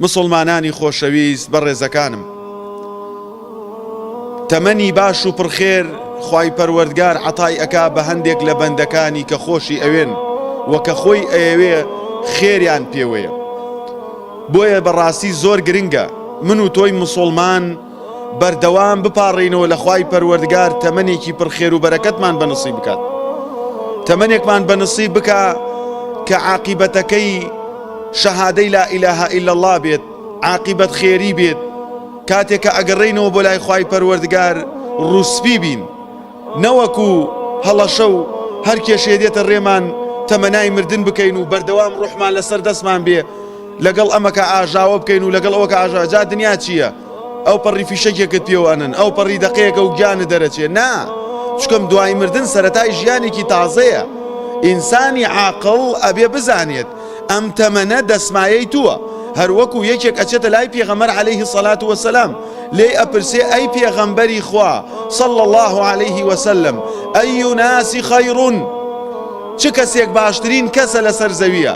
مسوڵمانانی خۆشەویست بەڕێزەکانم تەمەنی باش و پڕخێر خوای پەروەردگار عەتای ئەکا بە هەندێک لە بەندەکانی کە خۆشی ئەوێن و کە خۆی ئەیەوێ خێریان پێوەیە بۆیە بەڕاستی زۆر گرنگە من و تۆی مسوڵمان بەردەوام بپاڕێینەوە لە خوای پەروەردگار تەمەنێکی پڕ خێر و بەرەکەتمان بە نسیب بکات تەمەنێکمان بە نسیب بکا کە عاقیبەتەکەی شەهادەی لا ئیلاها ئیلا الله بێت عاقیبەت خێری بێت کاتێک کە ئەگەڕێینەوە بۆ لای خوای پەروەردگار ڕوسپی بین نەوەکو هەڵەشە و هەر کێشەیە دێتە رێمان تەمەنای مردن بکەین و بەردەوام روحمان لەسەر دەستمان بێ لەگەڵ ئەمەکە ئاژاوە بکەین و لەگەڵ ئەوەکە ئاژاوە جا دنیا چییە ئەوپەڕی فیشەکێکت پێوە ئەنن ئەوپەڕی دەقەیەکە و گیانت دەرەچێ نا چکم دوای مردن سەرەتای ژیانێکی تازەیە ئینسانی عاقڵ ئەبێ بزانێت ئەم تەمەنە دەسمایەی تووە هەروەکو یەکێک ئەچێتە لای پێغەمبەر علیه صلات و سلام لێی ئەپرسێ ئەی پێغەمبەری خوا صلی الله علیه وسلم ئەی ناسی خەیڕون چ کەسێک باشترین کەسە لەسەر زەویە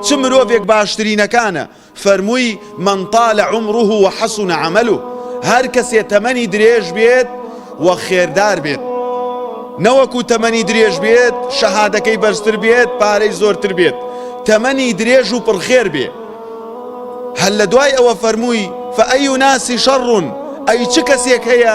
چ مرۆڤێک باشترینەکانە فەرمووی، من طال عمره و حسن عمله، هەر کەسێ تەمەنی درێژ بێت و خێردار بێت، نەوەکو تەمەنی درێژ بێت، شەهادەکەی بەرزتر بێت، پارەی زۆرتر بێت، تەمەنی درێژ و پڕ خێر بێ. هەر لە دوای ئەوە فەرمووی، فأی ناس شر، ئەی چ کەسێک هەیە،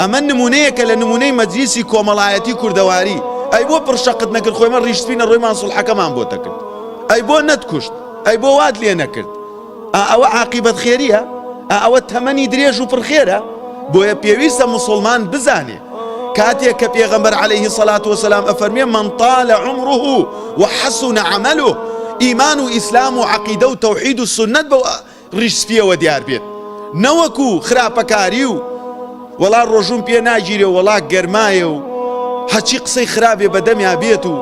ئەمە نمونەیەکە لە نمونەی مەجلیسی کۆمەڵایەتی کوردەواری ئەی بۆ پڕشەقت نەکرد خۆی مە ڕیش سپینە ڕۆیمان سوڵحەکەمان بۆ تەکرد ئەی بۆ نەتکوشت ئەی بۆ وات لێ نەکرد ئا ئەوە عاقیبەت خێریە ئا ئەوە تەمەنی درێژ و پڕخێرە بۆیە پێویستە مسلمان بزانێ کاتێک کە پێغەمبەر عليه سەلات وسلام ئەفەرمێ من طال عمره وحسن عمله ئیمان و ئیسلام و عقیدە و تەوحید و سنت بەوە ڕیش سپیەوە دیار بێت نەوەکو خراپەکاری و وەڵا ڕۆژووم پێ ناگیرێ و وەڵا گەرمایە و هەچی قسەی خراپێ بەدەمیا بێت و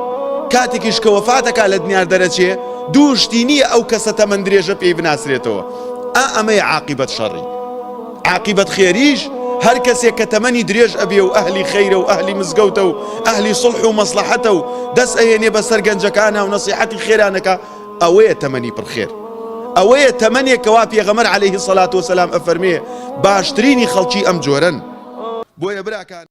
کاتێکیش کە وەفاتەکە لە دنیار دەرەچێ دوو شتی نییە ئەو کەسە تەمەند درێژە پێی بناسرێتەوە ئا ئەمەی عاقیبەت شەڕی عاقیبەت خێریش هەر کەسێک کە تەمەنی درێژ ئەبێ و ئەهلی خەیرە و ئەهلی مزگەوتە و ئەهلی سڵح و مەسلحەتە و دەست ئەهێنێ بەسەر گەنجەکانە و نەسیحەتی خێرانەکە ئەوەیە تەمەنی پڕ خێر. ئەوەیە تەمەنێک کەوا پێغەمبەر علیە سەلات وسلام ئەفەرمێ باشترینی خەڵکی ئەم جۆرەن. بۆیە براکانم.